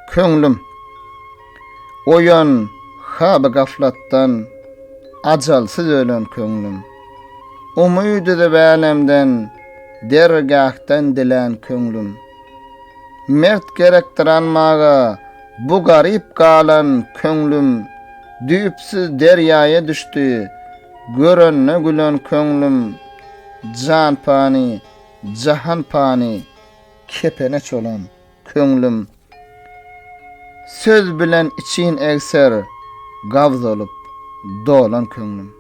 Köňlüm, oýan, haby gaflatdan, Ajalsyz ölen köňlüm. Umyt üzüp älemden, Dergähden dilän köňlüm. Mert gerekdir almaga, Bu garyp galan köňlüm. Düýpsüz derýaýa düşdi, Görende gülen köňlüm. Jan pany, jahan pany. Kepeneç olam, köňlüm, söz bilen için egser, gavz olup, dolan köňlüm.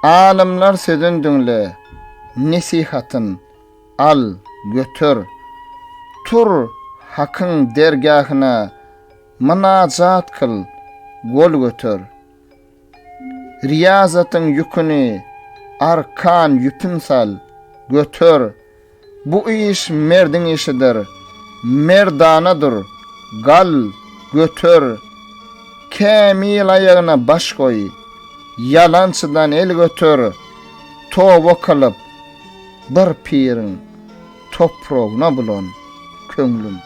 Alymlar sözün düňle, nesihatyn al, götür, tur Hakyň dergähine mynajat kyl, gol götür. Riýazatyň ýüküni arkan ýüpün sal, göter. Bu iş merdiň işidir. Merdana dur, gal, göter. Kämil aýagyna baş goý. Ýalançydan el göter. Toba kylyp, bir piriň topragyna bulan, köňlüm.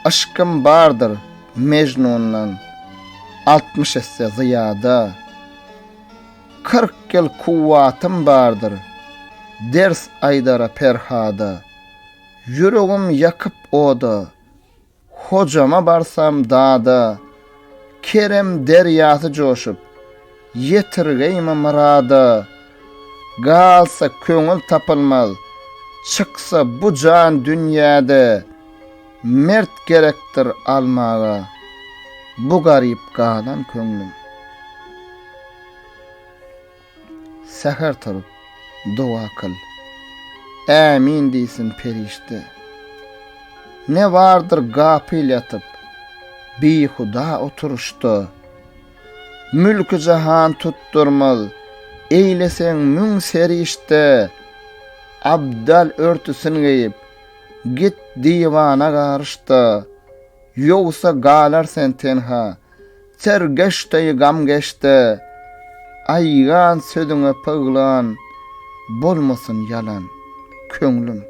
Yşkym bardyr. Mejnundan altmyş esse zyýada, Kyrk ýyl kuwwatym bardyr, Ders aýdara Perhada. Ýüregim ýakyp oda, Hojama barsam dada, Kerem derýasy joşup, Ýetirgeýme myrada, galsa köňül tapylmaz, Çyksa bu jan dünýäde, mert gerekdir almaga, Bu garyp galan köňlüm. Säher turup, doga kyl, Ämin diýsin perişde. Ne bardyr gapyl ýatyp, Bihuda oturyşda. Mülki jahan tutdurmaz. Eýleseň müň serişde Abdal örtüsin geýip, Git diwana garyş-da, Ýogsa galar sen tenha. Sergeş deý gam geç-de, Aýgan sözüňe pyglan, Bolmasyn ýalan, köňlüm.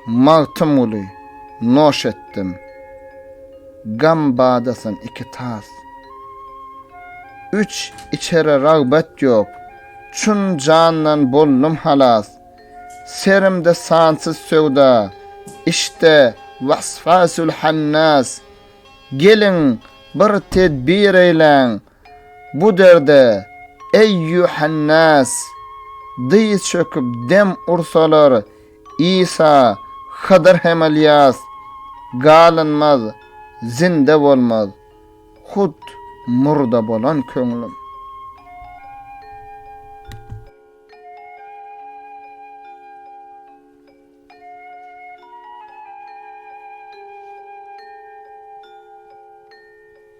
Magtymguly, Noş etdim. Gam badasyn iki tas. Üç içere ragbat ýok. Çün jandan boldum halas. Serimde sansyz söwda. Işde waswasül hannas. Geliň, bir tedbir eýläň. Bu derde, eýýuhannas. Dyz çöküp dem ursalar. Isa, Hydyr hem Ylýas galynmaz, zinde bolmaz, hut murda bolan köňlüm.